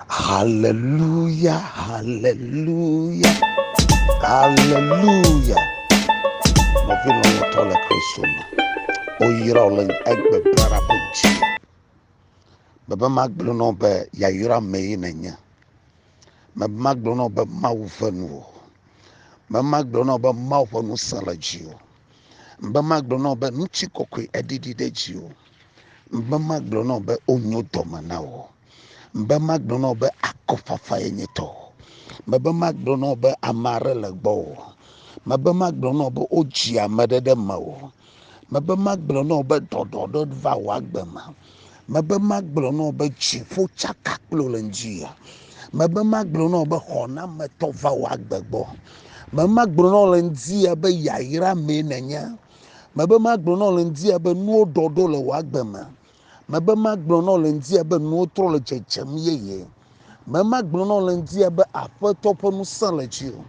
Haleluya, haleluya, haleluya. Nɔvi lɔlɔ̃tɔ le Kristo me. Woyra wò le egbe blara ƒe dzi. Bebe magblɔ na wò be yayra mee nènye. Bebe magblɔ na wò be Mawu ʋe nu wò. Bebe magblɔ na wò be Mawu ƒe ŋusẽ le dziwò. Be magblɔ na wò be ŋutikɔkɔe eɖiɖi ɖe dziwò. Be magblɔ na wò be wonyo dɔme na wò. Be magblɔ na wò be akɔfafa ye nye tɔ. Be magblɔ na wò be ame aɖe le gbɔ wò. Be magblɔ na wò be wodzi ame aɖe ɖe me wò. Be magblɔ na wò be ɖɔɖɔɖɔ va wò agbe me. Mebe magblɔ na wò be dziƒo tsaka kple wò le ŋdziya. Mebe magblɔ na wò be xɔnametɔ va wò agbe gbɔ. Mebe magblɔ na wò le ŋdziya be yayra mee nènye. Mebe magblɔ na wò le ŋdziya be nuwo ɖɔɖɔ le wò agbe me. Mebe magblɔ na wò le ŋdziya be nuwo trɔ le dzedzem yeye. Memagblɔ na wò le ŋdia be Aƒetɔ ƒe ŋusẽ le dziwò?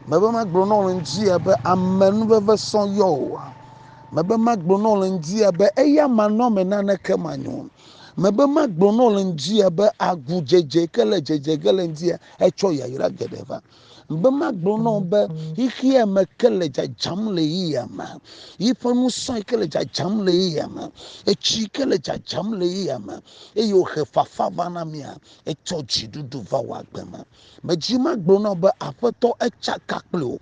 Mebe magblɔ na wò le ŋdia be ame nuveve sɔ yɔ wòa? Mebe magblɔ na wò le ŋdia be eya manɔame naneke manyo? Mebe magblɔ na wò le ŋdia be agudzedze ke le dzedze ge le ŋdia etsɔ yayra geɖe va? Be magblɔ na wo be xexea me ke le dzadzam le yeyea me, yiƒe ŋusẽ ke le dzadzam le yeyea me, etsi ke le dzadzam le yeyea me, eye wòhe fafa va na mía, etsɔ dziɖuɖu va wò agbe me. Medzi magblɔ na wo be Aƒetɔ etsaka kpli wò,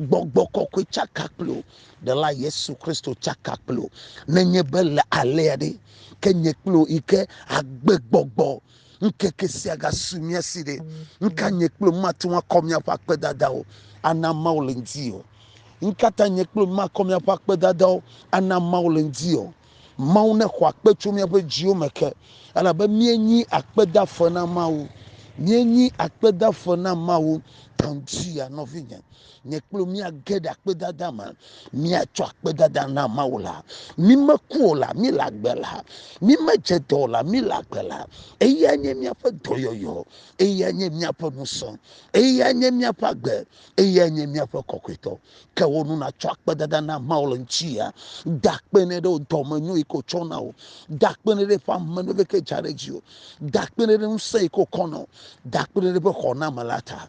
gbɔgbɔ kɔkɔe tsaka kpli wò, ɖela Yesu Kristo tsaka kpli wò. Nenye be le alea ɖe, ke nye kpli wò yi ke agbe gbɔgbɔ Ŋkeke sia gasu mía si ɖe. Ŋka nye kple mate ŋu akɔ míaƒe akpedadawo ana Mawu le ŋdi o? Ŋkata nye kple makɔ míaƒe akpedadawo ana Mawu le ŋdi o? Mawu nexɔ akpe tso míaƒe dziwo me ke, elabe míenyi akpedaƒe na Mawu. Míenyi akpedaƒe na Mawu. Tɔndzia, nɔvinye. nye kple míage ɖe akpedada me míatsɔ akpedada na mawu la mímeku o la míle agbe la mímedze dɔ o la míle agbe la eya nye míaƒe dɔyɔyɔ eya nye míaƒe ŋusẽ eya nye míaƒe agbe eya nye míaƒe kɔkɔetɔ ke wo nu natsɔ akpedada na mawu le ŋutia da akpe ne ɖe wo dɔme nyo yi ko tsɔ na wo da akpe ne ɖe ƒe ame ne ɖeke dza ɖe dzi o da akpe ne ɖe ŋusẽ yi ko kɔ na wo da akpe ne ɖe ƒe xɔname la ta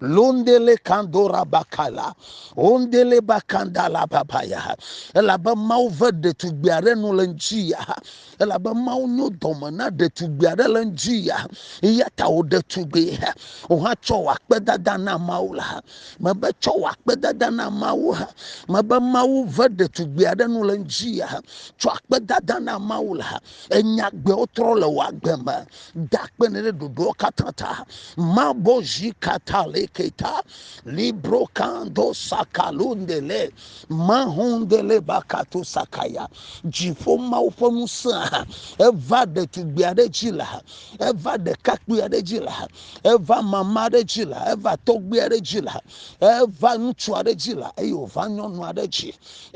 Londele kandora bakala, ondele bakandala babaya. Elabe Mawu ve ɖetugbui aɖe nu le ŋdi ya. Elabe Mawu nyo dɔme na ɖetugbui aɖe le ŋdi ya. Eya ta wò ɖetugbui, wò hã tsɔ wò akpedada na Mawu la. Mebe tsɔ wò akpedada na Mawu. Mebe Mawu ve ɖetugbui aɖe nu le ŋdi ya. Tsɔ akpedada na Mawu la. Enya gbewo trɔ le wò agbe me. da akpe ne ɖe ɖoɖoa katã ta mabɔ zi kata le keta libro kando sakalo nde le maho nde le bakato sakaya dziƒo mawo ƒe ŋusẽ eva ɖetugbui aɖe dzi la eva ɖekakpui aɖe dzi la eva mama aɖe dzi la eva tɔgbui aɖe dzi la eva ŋutsu aɖe dzi la eye wòva nyɔnu aɖe dzi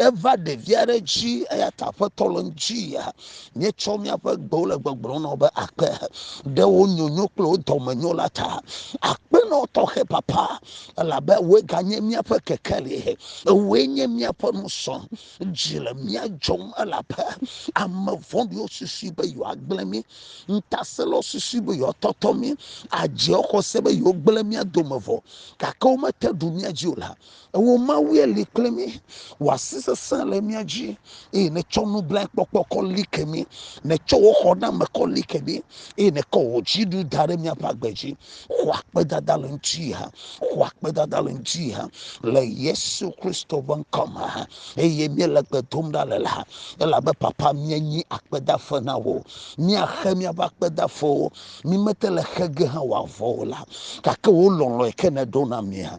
eva ɖevi aɖe dzi eya ta aƒetɔ le ŋuti ya míetsɔ míaƒe gbewo le gbɔgblɔm nɔ be akpe ɖe wo nyonyo kple wo dɔmenyo la ta akpenɔ tɔxɛ papa elabe woe ganye míaƒe kekeli ewoe nye míaƒe nusɔ dzi le mía dzɔm elabe ame vɔɖiwo susu be yewoagblẽ mí ŋutasẽlawo susu be yewoatɔtɔ mí adze xɔse be yewogblẽ mía dome vɔ gake womete ɖu mía dzi o la Ewò Mawue li kple mí, wò asi sesẽ le mía dzi, eye nètsɔ nublankpɔkpɔ kɔ li ke mí. Nètsɔ wò xɔname kɔ li ke mí, eye nèkɔ wò dziɖu da ɖe míaƒe agbe dzi. Xɔ akpedada le ŋuti ha, xɔ akpedada le ŋuti ha, le Yesu Kristo ƒe ŋkɔ me ha, eye míele gbe dom ɖa le la, elabe Papa, míenyi akpedafe na wò. Míaxe míaƒe akpedafewo, mímete le xe ge hã wòavɔ o la, gake wò lɔlɔ̃e ke nèɖo na mía.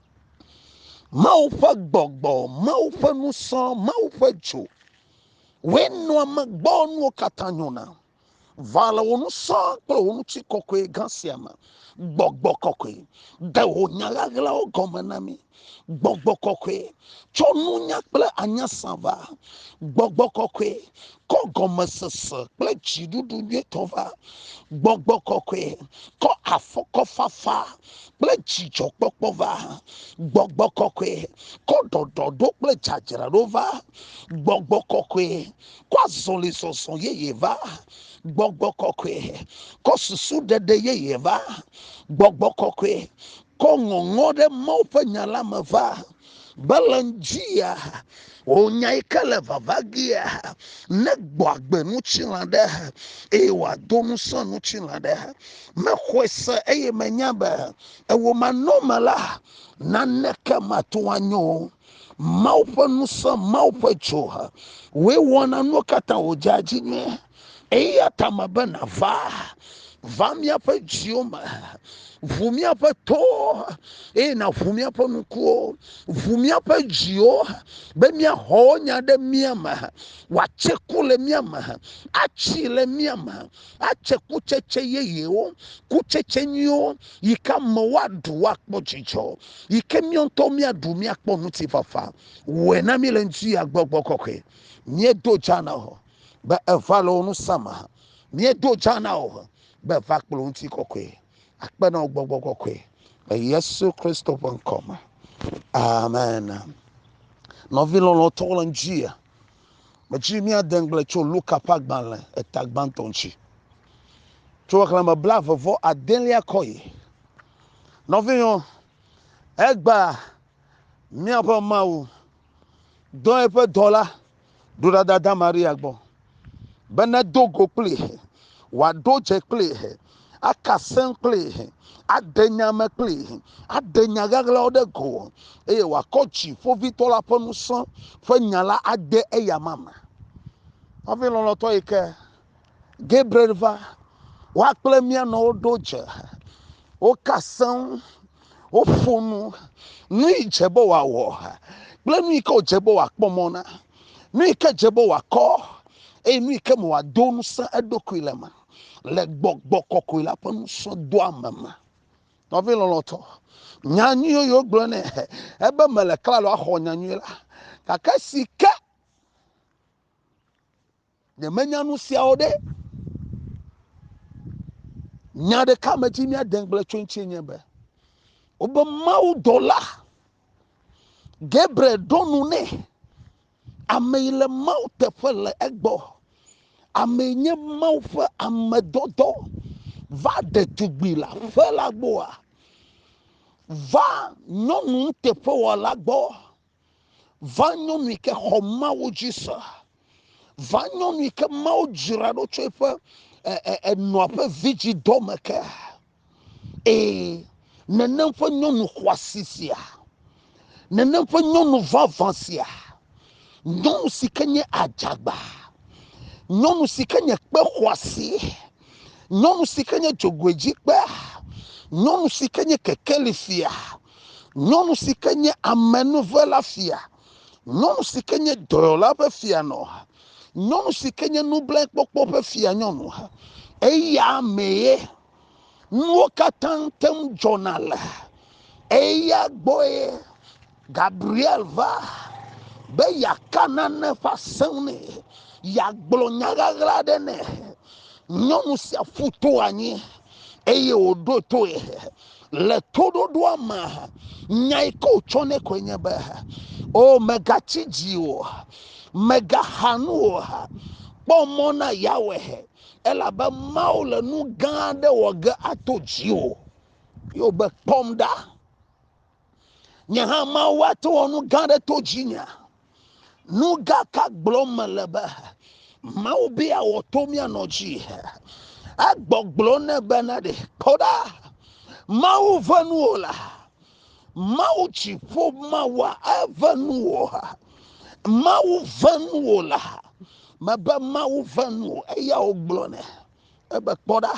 Mawu ƒe gbɔgbɔ, Mawu ƒe nusɔ, Mawu ƒe dzo. Woe nɔa me gbɔ nuwo katã nyona. Va le wò nusɔ kple wò ŋuti kɔkɔe gã sia me. Gbɔgbɔ kɔkɔe, de wò nya ɣaɣlawo gɔme na mi. Gbɔgbɔ kɔkɔe, tsɔ nunya kple anya sa va. Gbɔgbɔ kɔkɔe, kɔ gɔmesese kple dziɖuɖu nyuitɔ va. Gbɔgbɔ kɔkɔe, kɔ afɔkɔfafa kple dzidzɔkpɔkpɔ va gbɔgbɔ kɔkɔe kɔ ɖɔɖɔ ɖo kple dzadzraɖo va gbɔgbɔ kɔkɔe kɔ azɔli zɔzɔ yeye va gbɔgbɔ kɔkɔe kɔ susu ɖeɖe yeye va gbɔgbɔ kɔkɔe kɔ ŋɔŋɔ ɖe mawu ƒe nya la me va Balaam dzia wònya yi ke le vava gea negbɔ agbe ŋutilã ɖe eye wòado ŋusẽ ŋutilã ɖe. Mexɔe se eye menya be ewo manɔme la naneke mate ŋu anyo. Mawu ƒe ŋusẽ, Mawu ƒe dzo, wòe wɔna nuwo katã wòdzea dzi nyuie. eya ta mebe nàva va míaƒe dziwo me ʋu míaƒe towo eye nàʋu míaƒe nukuwo ʋu míaƒe dziwo be míaxɔ wo nya ɖe mía me wòatse ku le mía me atsi le mía me atse kutsetse yeyewo kutsetse nyuiwo yi ke amewo aɖu woakpɔ dzidzɔ yi ke míawo ŋutɔ míaɖu míakpɔ ŋutifafa wɔe na mí le ŋuti ya gbɔgbɔ kɔkɔe míedo dza na hɔ be eva le wo nu sam hã míedo dza na wo be va kple ŋuti kɔkɔe akpe na wo gbɔgbɔ kɔkɔe le yesu kristo ƒe ŋkɔ me amen nɔvi lɔlɔtɔ le ŋdzia medzi míade ŋgble tso luka ƒe agbalẽ eta gbãtɔ ŋuti tso xexlẽme bla eve vɔ adelia kɔ yi nɔvinyɔ egba míaƒe mawu dɔ eƒe dɔla Ɖo ɖada da Maria gbɔ, be nedo go kpli, wòaɖo dze kpli, aka sẽŋ kpli, aɖe nya me kpli, aɖe nya ɣaɣlawo ɖe go, eye wòakɔ dziƒovitɔ la ƒe ŋusẽ ƒe nya la ade eya ma me. Nɔvi lɔlɔ̃tɔ yi ke Gabriel va, wa kple mía nɔ woɖo dze, woka seŋ, woƒo nu, nu yi dze be wòawɔ kple nu yi ke wòdze be wòakpɔ mɔ na, nu yi ke dze be wòakɔ eye nu yi ke me wòado ŋusẽ eɖokui le me le gbɔgbɔ kɔkɔe la ƒe nusɔdoame me. Nɔvi lɔlɔ̃tɔ, nya nyuiwo yi wogblɔ nɛ ebe mele klalo axɔ nya nyui la, gake si ke Ne menya nu siawo ɖe, nya ɖeka me dzi míade ŋugble tso ŋuti nye be, wobe Mawu dɔla Gabriel ɖo nu nɛ. Ame yi le Mawu teƒe le egbɔ. Ame yi nye Mawu ƒe ame dɔdɔ va ɖe tugbui le aƒe la gbɔa. Va nyɔnu nuteƒewɔla gbɔ. Va nyɔnu yi ke xɔ Mawu dzi se. Va nyɔnu yi ke Mawu dzra ɖo tso eƒe enɔa ƒe vidzidɔ me ke. Ee, nenem ƒe nyɔnu xɔasi sia, nenem ƒe nyɔnu vavã sia, nyɔnu si ke nye adzagba, nyɔnu si ke nye kpe xɔasi. nyɔnu si ke nye dzogoedzikpea, nyɔnu si ke nye kekeli fia, nyɔnu si ke nye amenuve la fia, nyɔnu si ke nye dɔyɔla ƒe fia nɔ, nyɔnu si ke nye nublankpɔkpɔ ƒe fia nyɔnu. Eya mee nuwo katã te ŋu dzɔna le, eya gbɔe Gabriel va be yeaka nane ƒe asem nɛ, yeagblɔ nya ʋaʋla aɖe nɛ. Nyɔnu sia ƒu to anyi eye wòɖo toe. Le toɖoɖoa me, nya yi ke wòtsɔ nɛ koe nye be, o megatsi dzi o, megaxa nu o, kpɔ mɔ na Yawe, elabe Mawu le nu gã aɖe wɔ ge ato dziwò. Yewo be, kpɔm ɖa. nye hã mawu ate wɔ nu gã aɖe to dzinya nu gã ka gblɔm mele be mawu be awɔ to mianɔ dzi egbɔgblɔ ne bena ɖe kpɔ ɖa mawu ve nu o la mawu dziƒo mawua eve nu o mawu ve nu o la mebe mawu ve nu o eya wogblɔ ne ebe kpɔ ɖa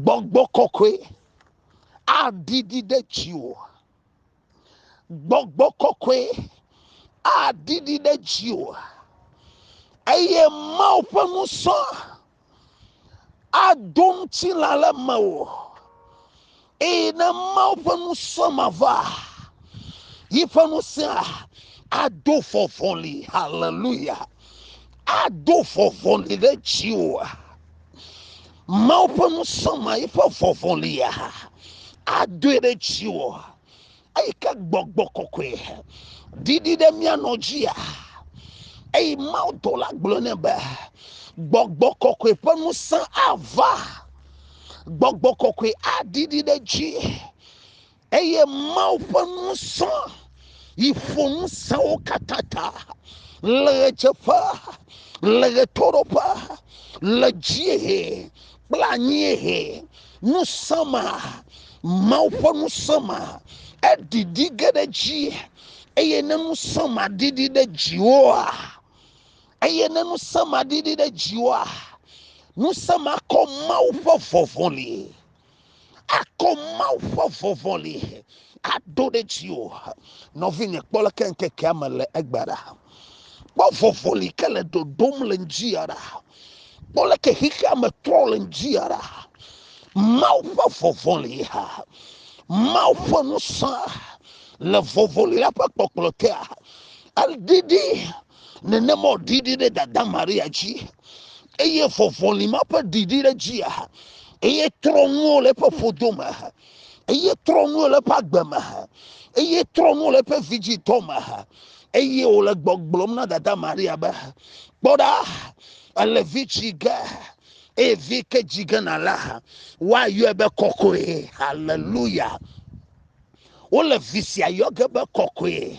gbɔgbɔ kɔkɔe aɖiɖi ɖe dziwò. Gbɔgbɔ kɔkɔe aɖiɖi ɖe dziwò eye Mawu ƒe ŋusɔ ado ŋutilã le mewò eye ne Mawu ƒe ŋusɔ ma va yi ƒe ŋusẽ ado vɔvɔli haleluya ado vɔvɔli ɖe dziwò. Mawu ƒe nusɔma yi ƒe vɔvɔ li ya adoe ɖe dziwò eyi ke gbɔgbɔ kɔkɔe ɖiɖi ɖe mía nɔ dzia eyi mawu dɔ la gblɔ ne be gbɔgbɔ kɔkɔe ƒe nusẽ ava gbɔgbɔ kɔkɔe aɖiɖi ɖe dzi eye mawu ƒe nusɔ yi ƒo ŋusẽwo katã ta le ɣedzeƒe le ɣetoɖoƒe le dziehe kple anyiehe ŋusẽ ma mawu ƒe ŋusẽ ma eɖiɖi ge ɖe dzi eye ne ŋusẽ ma ɖiɖi ɖe dziwoa eye ne ŋusẽ ma ɖiɖi ɖe dziwoa ŋusẽ ma kɔ mawu ƒe vɔvɔli akɔ Mawu ƒe vɔvɔli ado ɖe dzi o. Nɔvinye kpɔ le ke ŋkekea me le egbe ɖa. Kpɔ vɔvɔli ke le dodom le ŋdzi ya ɖa. Kpɔ le ke xixea me trɔ le ŋdzi ya ɖa. Mawu ƒe vɔvɔli ha. Mawu ƒe nusã le vɔvɔli la ƒe kpɔkplɔ tea. Edidi nenema wòɖiɖi ɖe dada Maria dzi eye vɔvɔli ma ƒe ɖiɖi ɖe dzia eye trɔ nuwo le eƒe ƒodo me eye trɔ nuwo le eƒe agbe me eye trɔ nuwo le eƒe vidzitɔ me eye wòle gbɔgblɔm na dada Maria be kpɔ ɖa ele vi tsi ge eye vi ke dzi ge na la woayɔe be kɔkɔe haleluya wole vi sia yɔ ge be kɔkɔe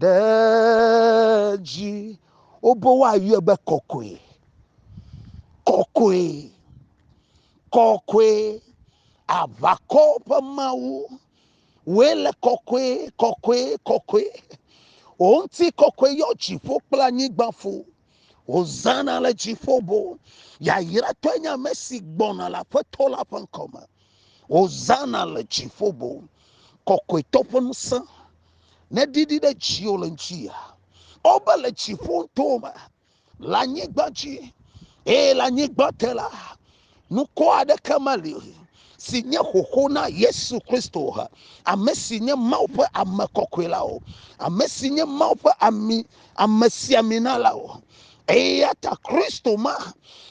Ɖe dzi wobe woayɔe be kɔkɔe. Kɔkɔe. Kɔkɔe. Aʋakɔ ƒe Mawu. Wòe le kɔkɔe, kɔkɔe, kɔkɔe. Wò ŋuti kɔkɔe yɔ dziƒo kple anyigba ƒo. Hosana le dziƒo bo. Yayratɔe nye ame si gbɔna le Aƒetɔ la ƒe ŋkɔ me. Hosana le dziƒo bo. Kɔkɔetɔ ƒe ŋusẽ ne didi ɖe dziwò le ŋuti ya wobe le dziƒo to me le anyigba dzi eye le anyigba te la nukɔ aɖeke meli si nye xoxo na yesu kristo ame si nye mawu ƒe ame kɔkɔe la o ame si nye mawu ƒe ami ame siamina la o eya ta kristo ma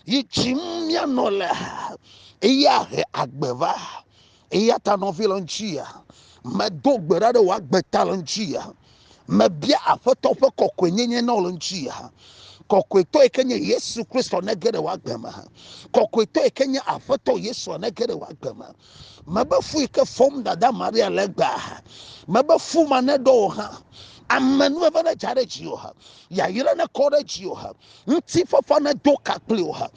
yi dzim míanɔ le eya he agbe va Eya ta nɔvi le ŋutia, medo gbe ɖa ɖe wò agbe ta le ŋutia. Mebia Aƒetɔ ƒe kɔkɔenyenye na wò le ŋutia. Kɔkɔetɔ yi ke nye Yesu Kristo nege ɖe wò agbe me. Kɔkɔetɔ yi ke nye Aƒetɔ Yesu nege ɖe wò agbe me. Mebe fu yi ke fɔm dada Maria le gbea, mebe fu ma neɖɔ wò hã. Amenuveve nedza ɖe dziwò ha, yayra nekɔ ɖe dziwò ha. ŋutifafa nedo ka kpli o ha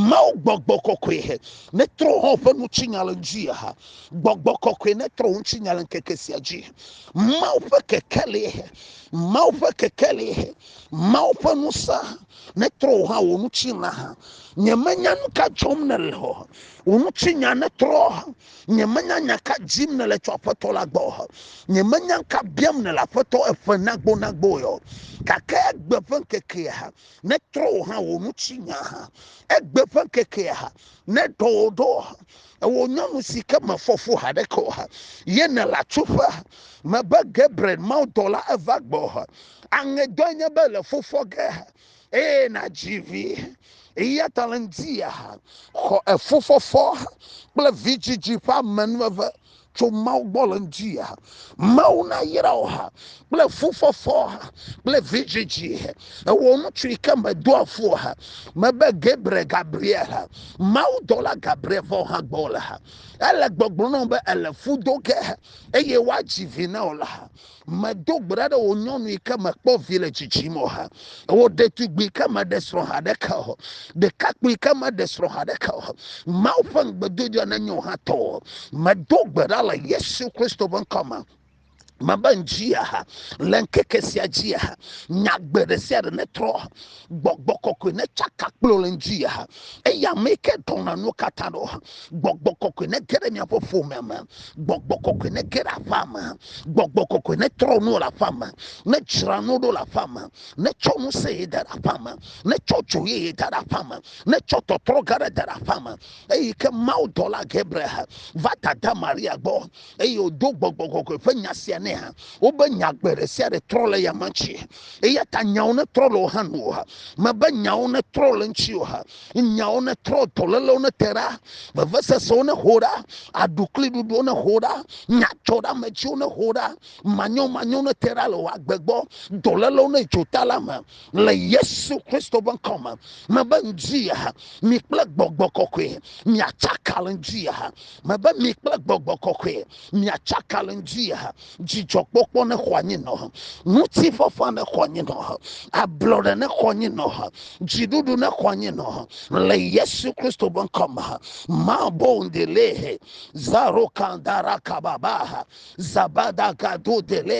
mawo gbɔgbɔ kɔkɔe he netrɔ hɔ ƒe ŋutinya le ŋdzi ha gbɔgbɔ kɔkɔe netrɔ ŋutinya le ŋkeke sia dzi mawo ƒe kekeli he mawo ƒe kekeli he mawo ƒe nusa netrɔ hɔ wo ŋutinya ha nyemenya nu ka dzɔm nele o ŋutinya netrɔ ha Nyemenya nya ka dzim nèle tso Aƒetɔ la gbɔ o. Nyemenya ka biam nèle Aƒetɔ eƒe nagbonagbo o. Gake egbe ƒe ŋkekea netrɔ wò hã wò ŋuti nya. Egbe ƒe ŋkekea neɖɔ wò ɖo. Ewò nyɔnu si ke mefɔ fu haɖeke o, ye nèle atsuƒe me be Gabriel mawudɔla eva gbɔ. Aŋedɔe nye be le fu fɔ ge eye nadzi vi eya ta le ŋdia xɔ efufɔfɔ kple vidzidzi ƒe amenuveve tso mawu gbɔ le ŋdia mawu nayra wò ha kple fufɔfɔ kple vidzidzi ewɔ ŋutsu yi ke medo afo ha mebe gabriel gabriel ha mawu dɔla gabriel vɔ ha gbɔ le ha ele gbɔgblɔ na be ele fu do ge eye woadzi vi na wò le ha Medo gbe ɖa ɖe wò nyɔnu yi ke mekpɔ vi le dzidzim o ha. Wò ɖetugbui ke meɖe srɔ̃ ha ɖeke o. Ɖekakpui ke meɖe srɔ̃ ha ɖeke o. Mawu ƒe ŋugbedodoa nenye wò hã tɔ o. Medo gbe ɖa le Yesu Kristo ƒe ŋkɔ me mebe ŋdzia ha le ŋkeke sia dzia ha nyagbe ɖe sia ɖe netrɔ gbɔgbɔ kɔkɔe ne tsaka kplɔ le ŋdi ya eya me ke dɔna nu katã ɖo gbɔgbɔ kɔkɔe ne ge ɖe miaƒe ƒome me gbɔgbɔ kɔkɔe ne ge ɖe aƒea me gbɔgbɔ kɔkɔe ne trɔ nu le aƒea me ne dzra nu ɖo le aƒea me ne tsɔ nu se ye da ɖe aƒea me ne tsɔ dzo ye ye da ɖe aƒea me ne tsɔ tɔtrɔ ga ɖe da ɖe aƒea me eyi ke mawu dɔla gabriel va dada maria gbɔ eye wòdo gbɔgbɔ kɔkɔe ƒe nya sia nɛ hã. Wobe nya gbe ɖe sia ɖe trɔ le eya ma ŋuti. Eya ta nyawo netrɔ le wò hã nu o ha. Mebe nyawo netrɔ le ŋuti o ha. Nyawo netrɔ, dɔlélewo nete ɖa, vevesesewo nexo ɖa, aɖukliɖuɖuwo nexo ɖa, nyadzɔɖeamedziwo nexo ɖa, manyomanyowo nete ɖa le wò agbe gbɔ, dɔlélewo nedzo ta la me le Yesu Kristo ƒe ŋkɔ me. Mebe ŋdi ha, mi kple gbɔgbɔ kɔkɔe miatsaka le ŋdi ha. Mebe mi kple gbɔgbɔ kɔkɔe miatsaka le ŋdzi dzidzɔkpɔkpɔ ne xɔ anyi nɔ ŋutifafa ne xɔ anyi nɔ ablɔɖe ne xɔ anyi nɔ dziɖuɖu ne xɔ anyi nɔ le yesu kristo be ŋkɔ me mabondele zarokandarakababa zabadagado dele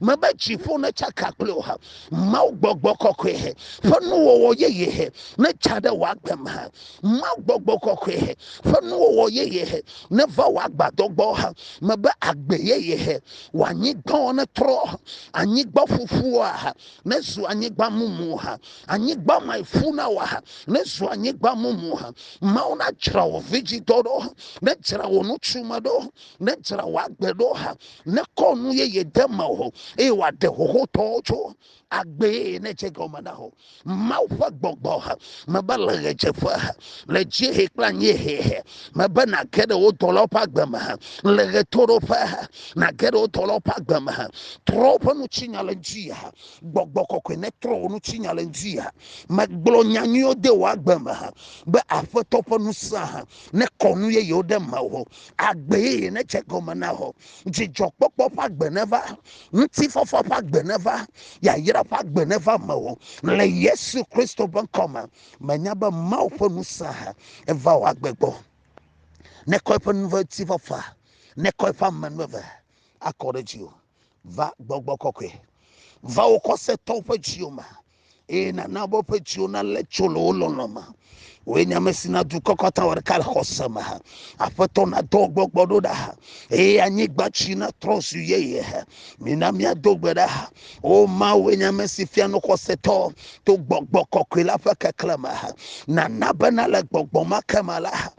mebe dziƒo ne tsaka kple o ha mawu gbɔgbɔ kɔkɔe he ƒe nuwɔwɔ yeye he ne tsa ɖe wò agbe me ha mawu gbɔgbɔ kɔkɔe he ƒe nuwɔwɔ yeye he ne va wò agbadɔ gbɔ ha mebe agbe yeye he wò anyigba ne trɔ anyigba ƒuƒua ha ne zu anyigba mumu ha anyigba ma ƒu na wɔ ha ne zu anyigba mumu ha mawu na dzra wò vidzidɔ ɖo ne dzra wò ŋutsu me ɖo ne dzra wò agbe ɖo hã, ne kɔ nu yeye de me o, eye wòaɖe xoxotɔwo tso agbee ne dze gɔme na o. Mawu ƒe gbɔgbɔ ha mebe le ɣedzeƒe ha, le dziehe kple anyiehe ha, mebe nàge ɖe wò dɔlawo ƒe agbe me ha, le ɣetoɖoƒe ha, nàge ɖe wò dɔlawo ƒe agbe me ha. Trɔ woƒe nutsinya le ŋdi ha, gbɔgbɔ kɔkɔe netrɔ wò nutsinya le ŋdi ha. Megblɔ nya nyuiwo de wò agbe me ha, be Aƒetɔ ƒe ŋusẽ ha nekɔ nu yeyewo ɖe mewò. agbe yeye nedze gɔme na wò dzidzɔkpɔkpɔ ƒe agbe neva ŋutifafa ƒe agbe neva yayra ƒe agbe neva me wò le yesu kristo ƒe ŋkɔ me menya be mawu ƒe ŋusẽ ha eva wò agbe gbɔ nekɔ eƒe nuvetsifafa nekɔ eƒe amenuveve akɔ ɖe dziwò va gbɔgbɔ kɔkɔe va wo xɔsetɔwo ƒe dziwo me eye nana be woƒe dziwo nalé tso le wo lɔlɔ̃ me wòye nya me si na dukɔ kɔta wɔ ɖeka le xɔse me ha aƒetɔ nadɔ gbɔgbɔ ɖo ɖa ha eye anyigba tsi natrɔ zu yeye ha mina míado gbe ɖa ha o mawòe nya me si fia no xɔsetɔ to gbɔgbɔ kɔkɔe la ƒe keklẽ me ha nana bena le gbɔgbɔ ma ke me la ha